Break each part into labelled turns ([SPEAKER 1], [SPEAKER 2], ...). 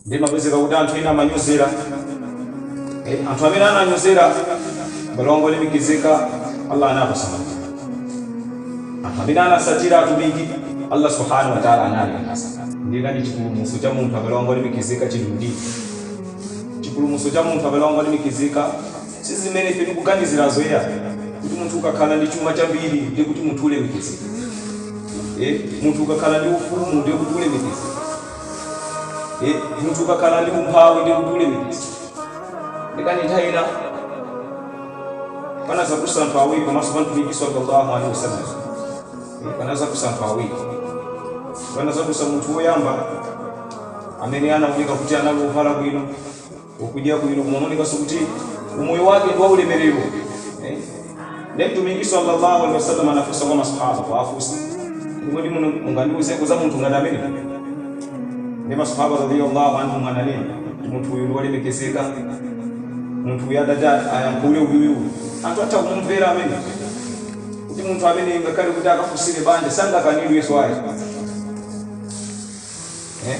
[SPEAKER 1] Ndi kumapezeka kuti anthu ena amanyozera eh, anthu amene ananyozera abale wangu olemekezeka Allah anapasa mafuta. Anthu amene anasatira atumiki Allah subhanahu wa ta'ala analipasa. Ndiye kani chipulumutso cha munthu abale wangu olemekezeka chili mdini. Chipulumutso cha munthu abale wangu olemekezeka si zimene ife tikuganizirazo ya kuti munthu ukakhala ndi chuma chambiri ndiye kuti munthu ulemekezeka. Eh, munthu ukakhala ndi ufumu ndiye kuti ulemekezeka. e, munthu ukakhala ndi umphawi ndiye kuti ulemekezeka ndiye kani nthawi ina panazadusa anthu awiri pamaso pa mtumiki sallallahu alaihi wasallam Eh, panazadusa anthu awiri panazadusa munthu woyamba amene anaoneka kuti anali wovala bwino wokudya bwino kumaonekanso kuti umoyo wake ndi waulemerero eh? ndiye mtumiki sallallahu alaihi wasallam anafunsa kwa masahaba kuwafunsa kuti kodi muno mungandiuzeko za munthu ngati ameneyu ndiye masahaba radiyallahu anhum ananena kuti munthu uyu ndi wolemekezeka munthu uyu atati ayankhule uyuyu anthu atha kumumvera amene kuti munthu amene ngakhale kuti akafunsire banja sangakanidwenso ayi eh?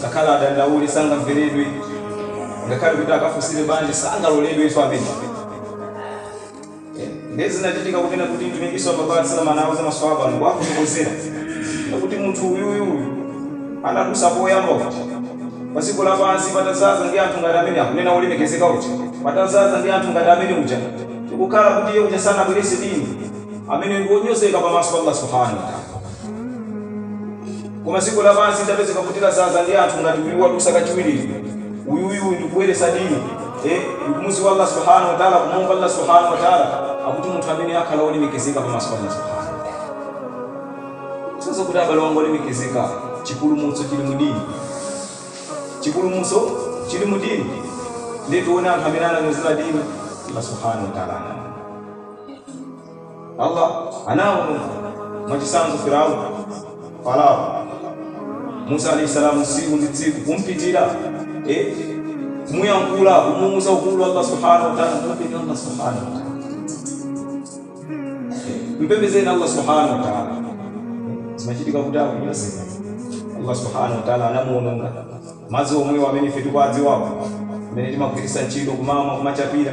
[SPEAKER 1] Ngakhale atadandaula sangamveredwe, ngakhale kuti akafunsire banja sangaloledwenso amenewa. Ndiye zinachitika kunena kuti Mtumiki sallallahu alaihi wasallam anauza maswahaba ndi kuwafotokozera kuti munthu uyuyu anadusa poyamba uja pa dziko lapansi patazaza ndi anthu ngati amene mukunena olemekezeka uja patazaza ndi anthu ngati amene uja ndikukhala kuti iye uja sanavomereze dini ameneyo ndi wonyozeka pamaso pa Allah subhanahu wa ta'ala. koma dziko lapansi litapezeka kuti lazaza ndi anthu ngati uyu wadusa kachiwiri uyuyu ndikuvomereza dini eh, ndikumuziwa allah subhanahu wataala kumuopa allah subhanahu wataala akuti munthu ameneyo akhala olemekezeka pamaso pa allah subhanahu kusonyeza kuti abale wangu olemekezeka chipulumutso chili mudini chipulumutso chili mudini nde tione anthu amene ananyozera dini allah subhanahu wataala anani Allah anawononga mwachitsanzo Firaun, Farao, Musa alaih salaam tsiku ndi tsiku kumpitira, e, kumuyankhula, kumuuza ukulu wa Allah Subhaanahu wa Ta'ala, muopeni Allah Subhaanahu wa Ta'ala, mpembezeni Allah Subhaanahu wa Ta'ala. Zimachitika kuti akunyoza Allah Subhaanahu wa Ta'ala anamuononga madzi omwewa amene ife tikuwadziwawa amene timagwiritsa ntchito kumamwa kumachapira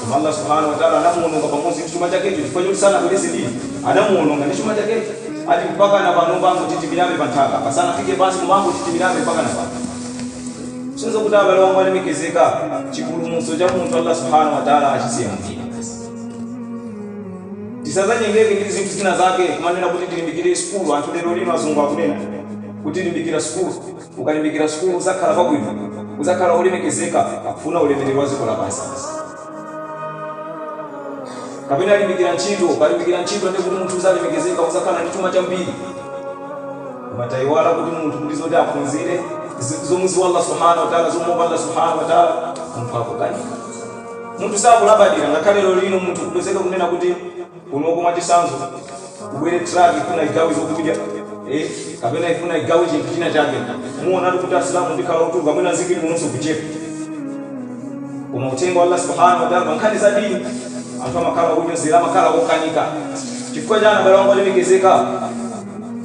[SPEAKER 1] Koma Allah subhanahu wa ta'ala anamuononga pamodzi ndi chuma chakecho chifukwa choti sanavomereze dini. Anamuononga ndi chuma chakecho. Ati mpakana panopa akungotitimirabe pa nthaka apa. Sanafike pansi akungotitimirabe mpakana pano. Kusonyeza kuti abale wangu alemekezeka chipulumutso cha munthu Allah subhanahu wa ta'ala achisiya mdini. Tisazanyengeke ndi zinthu zina zake kumanena kuti tilimbikire sukulu anthu lero lino azungu akunena kuti limbikira sukulu. Ukalimbikira sukulu uzakhala pabwino, uzakhala olemekezeka akufuna ulemelero wadziko lapansi basi. Kapena limbikira ntchito, ukalimbikira ntchito ndekuti munthu uzalemekezeka uzakhala ndi chuma chambiri. Koma taiwala kuti munthu ndi zoti aphunzire zomuziwa Allah Subhana Watala zomuopa Allah Subhana Watala munthu akukanika. Munthu sakulabadira ngakhale lero lino munthu kupezeka kunena kuti. kunoko mwachisanzo kubwere truck ifuna igawe zokudya eh kapena ifuna igawe chinthu china chake muonatu kuti asilamu tikhala ochuluka mwina mzikiti munonso kuchepa koma uthenga wa allah subhanahu wa ta'ala pa nkhani za dini anthu amakhala onyozera amakhala okanika chifukwa chani abale anga olemekezeka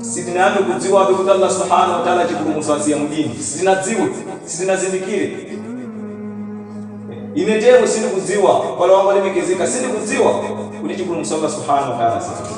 [SPEAKER 1] sitinayambe kudziwabe kuti allah subhanahu wa ta'ala chipulumutso asiya mudini sitinadziwe sitinazindikire Ine tero sindikudziwa, abale anga olemekezeka, sindikudziwa kuti chipulumutso Allah Subhaanah wa Ta'ala asiya.